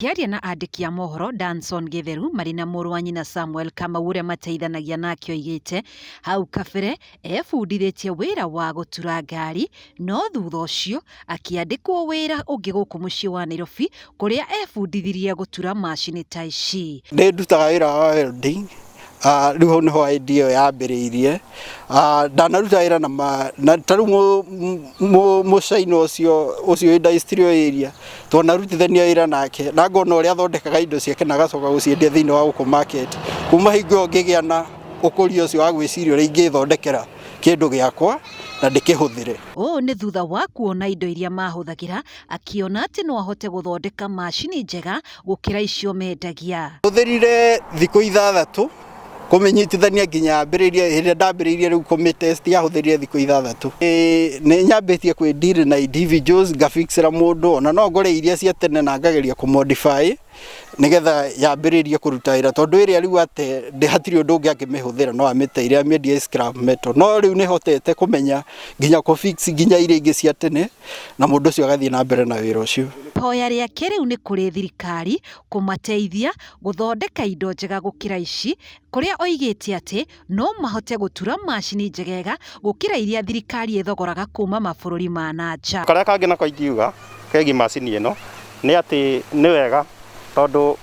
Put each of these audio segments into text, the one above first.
Akĩaria na andĩki a mohoro, Danson Gĩtheru marĩ na mũrũ wa nyina Samuel Kamau ũrĩa mateithanagia nake oigĩte hau kabere ebundithĩtie wĩra wa gũtura ngari no thutha ũcio akĩandĩkwo wĩra ũngĩ gũkũ mũciĩ wa Nairobi kũrĩa ebundithirie gũtura macini ta ici. Nĩ ndutaga wĩra wa welding Ah, rĩu hau nĩho idea ĩyo yambĩrĩirie Ah, ndanaruta wĩra na ma- na ta rĩu mũ- mũ- mũcaina ũcio ũcio wĩ industry area tondũ narutithania wĩra nake na ngona ũrĩa athondekaga indo ciake na agacoka gũciendia thĩinĩ wa gũkũ market kuma hingo ĩyo ngĩgĩa na ũkũria ũcio wa gwĩciria ũrĩa ingĩthondekera kĩndũ gĩakwa na ndĩkĩhũthĩre ũũ nĩ thutha wa kuona indo iria mahũthagĩra akĩona atĩ no ahote gũthondeka macini njega gũkĩra icio mendagia. Hũthĩrire thikũ ithathatũ kũmĩnyitithania nginya ambĩrĩrie hĩndĩ ndambĩrĩirie rĩu kũmĩtest yahũthĩrire thikũ ithathatũ nĩ nyambĩtie kwĩ deal na individuals ngafixĩra mũndũ ona no ngore iria cia tene na ngageria kũ modify nĩgetha yambĩrĩrie kũruta wĩra tondũ ĩrĩa rĩu ate hatirĩ ũndũ ũngĩ angĩmĩhũthĩra no amĩteire amĩendie scrap metal no rĩu nĩhotete kũmenya nginya kũ fix nginya iria ingĩ cia tene na mũndũ ũcio agathiĩ na mbere na wĩra ũcio. Ihoya rĩake rĩu nĩ kũrĩ thirikari kũmateithia gũthondeka indo njega gũkĩra ici, kũrĩa oigĩte atĩ no mahote gũtura macini njegega gũkĩra iria thirikari ĩthogoraga kuuma mabũrũri ma na nja. Karĩa kangĩ nako ingiuga kegiĩ macini ĩno nĩ atĩ nĩ wega tondũ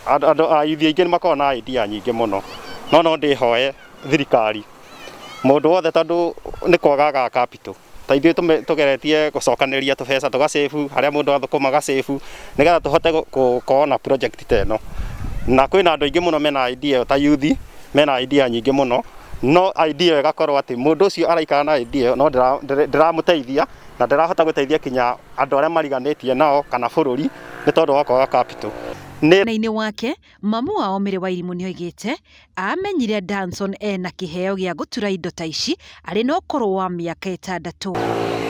andũ ayuthi aingĩ nĩ makoragwo na idea nyingĩ mũno, no no ndĩhoe thirikari mũndũ wothe tondũ nĩ kwaga agaga capital ta ithuĩ tũme- tũgeretie gũcokanĩrĩria tũbeca tũgacabu harĩa mũndũ athũkũma gacabu nĩgetha tũhote gũ- gũkorwo na project ta ĩno na kwĩna andũ aingĩ mũno mena idea ĩyo ta yuthi mena idea nyingĩ mũno no idea ĩyo ĩgakorwo atĩ mũndũ ũcio araikara na idea ĩyo no ndĩra- ndĩra- ndĩramũteithia na ndĩrahota gũteithia kinya andũ arĩa mariganĩtie nao kana bũrũri nĩ tondũ wa kwaga capital nĩ Mwena-inĩ wake, Mamu wao Mĩrĩ Wairimũ nĩoigĩte aamenyire Danson ena kĩheo gĩa gũtura indo ta ici arĩ na ũkũrũ wa mĩaka ĩtandatũ.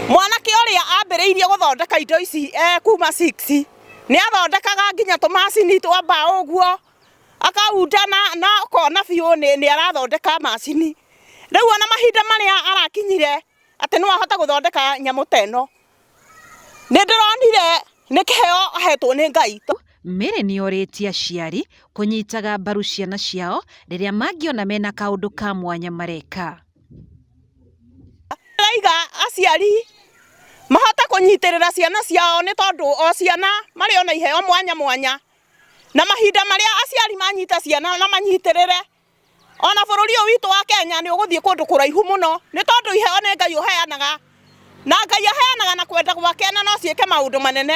Mwanake ũrĩa aambĩrĩirie gũthondeka indo ici e kuma six, nĩ athondekaga nginya tũmacini twa mbaũ ũguo, akaunda na na ũkona biũ nĩ nĩ arathondeka macini. Rĩu ona mahinda marĩa arakinyire atĩ no ahote gũthondeka nyamũ ta ĩno, nĩ ndĩronire nĩ kĩheo ahetwo nĩ Ngai. Mary nĩ orĩtie aciari kũnyitaga mbaru ciana ciao rĩrĩa mangĩona mena kaũndũ ka mwanya mareka. Araiga aciari mahote kũnyitĩrĩra ciana ciao nĩ tondũ o ciana marĩ ona iheo mwanya mwanya na mahinda marĩa aciari manyita ciana na manyitĩrĩre. ona bũrũri ũyũ witũ wa Kenya nĩ ũgũthiĩ kũndũ kũraihu mũno nĩ tondũ iheo nĩ Ngai ũheanaga na Ngai aheanaga na kwenda gwake na no ciĩke maũndũ manene.